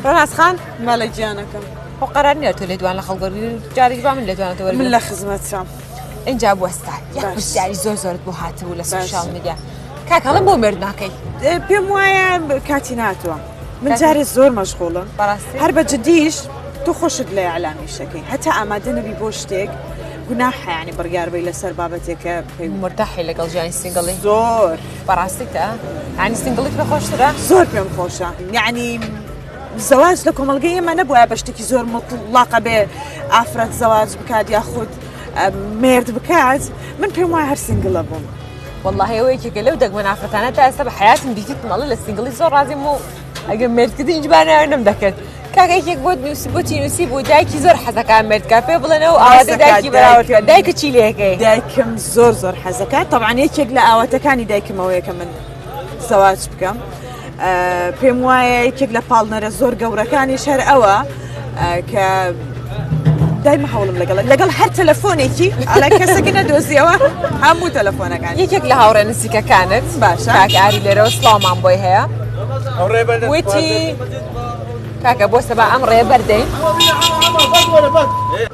ڕەناس خان مەلە گیانەکەم خۆ قەرار نیە تۆ لێدوان لە خەڵک وەرگری جارێک با من لێدوانەوە وەرگری من لە خزمەترام اینجا بوەستا یەک باش. پرسیاری زۆر زۆرت بۆ هاتبوو لە سوشال میدیا کاکەڵم بۆ مێرد ناکەی ئێ، پێم وایە کاتی ناتوە من کاتی- جارێ زۆر مەشغوڵم بەڕاستی؟ هەر بە جدیش تو خۆشت لە ئەلامیشەکەی هەتا ئامادە نەبی بۆ شتێک گوناحیانی بڕیاربەی لەسەر بابەتێکە پێی مرتاحی لەگەڵ ژیانی سینگڵی زۆر بەڕاستیتە ئەنی سنگڵی پێ خۆشترە زۆر پێم خۆشە یعنی زەواج لە کۆمەلگە ئێمە نەبووە بە شتێکی زۆر مڵقە بێ ئافرەت زەواج بکات یا خودت مرد بکات من پێم وای هەر سنگلە بووم والله ئەوەیەکێکە لەو دەگمە نافرەتانە تا ئێستا بە حیاتم دیتیت مەڵە لە سنگلی زۆر ڕازیم و ئەگەر مردکردی هیچ باناوێ نم دەکرد کاکێک بۆ نووسی بۆ تینوسی بوو دایکی زۆر حەزەکان مردکە پێ بڵێنەوە ئاوازە دایکی بەراوەکە دایکە چی لەکەی دایکم زۆر زۆر حەزەکە تەوان یەکێک لە ئاواتەکانی دایکمەوەیەکە من زەواج بکەم پێم وایە یەکێک لە پاڵنەرە زۆر گەورەکانی شەر ئەوە کە دایمە هەوڵم لەگەڵ لەگەڵ هەر تەلەفۆنێکی ئەلا کەسەکە نەدۆزیەوە هەموو تەلەفۆنەکان یەکێک لە هاوڕێ نزیکەکانت باشە ئاری لێرەوە سڵاومان بۆی هەیە وتی کاکە بۆ سەبا ئەم ڕێ بەردەین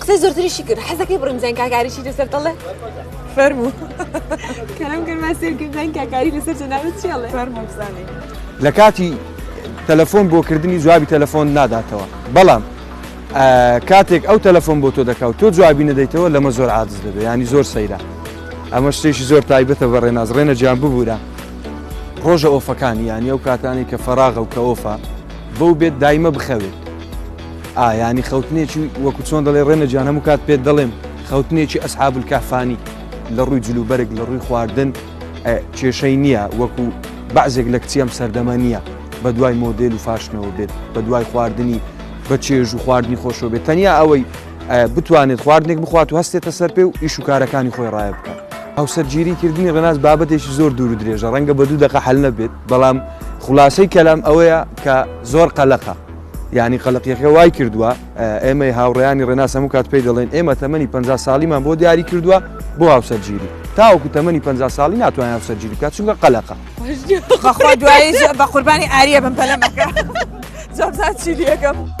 قسەی زۆرتریشی کرد حەزەکەی بڕیم زین کاکاریشی لەسەر دەڵێ فەرموو کەم گەرما سێرکردن کاکاری لەسەر جەناوی چێڵێ فەرموو بزانێ لە کاتی تەلەفۆن بۆ کردنی جوابی تەلەفۆن ناداتەوە بەڵام کاتێک ئەو تەلەفۆن بۆ تۆ دەکاو تۆ جوابی نەدەیتەوە لەمە زۆر عادز دەبێت ینی زۆر سەیرە ئەمە شتێکی زۆر تایبەتە بە ڕێناز ڕێنە جیان ببوورە ڕۆژە ئۆفەکانی یانی ئەو کاتانی کە فەراغە و کە ئۆفا بەو بێت دایمە بخەوێت ئا یانی خەوتنێکی وەکو چۆن دەڵێ ڕێنە جیان هەموو کات پێت دەڵێم خەوتنێکی ئەسحاب الکهفانی لە ڕووی جلوبەرگ لە ڕووی خواردن ئە، کێشەی نییە وەکو بەعزێک لە کچی ئەم سەردەمە نییە بە دوای مۆدێل و فاشنەوە بێت بە دوای خواردنی بە چێژ و خواردنی خۆشەوە بێت تەنیا ئەوەی ئە، بتوانێت خواردنێک بخوات و هەستێتە سەر پێ و ئیش و کارەکانی خۆی ڕایە بکات. هاوسەرگیری کردنی ڕێناس بابەتێکی زۆر دوور و درێژە ڕەنگە بە دوو دەقە حەل نەبێت بەڵام خولاسەی کەلام ئەوەیە کە زۆر قەلەقە. یانی قەلەقیەکە وای کردووە ئێمەی هاوڕیانی ڕێناس هەموو کات پێی دەڵێن ئێمە تەمەنی پ ساڵیمان بۆ دیاری کردووە بۆ هاوسەرگیری تاوەکو تەمەنی پ ساڵی ناتوان هاوسەرگیری بکات چونکە قەلەقە دوایی بە قوربانی ئاریە بم پەلەمەکە زۆر چی لەکەم.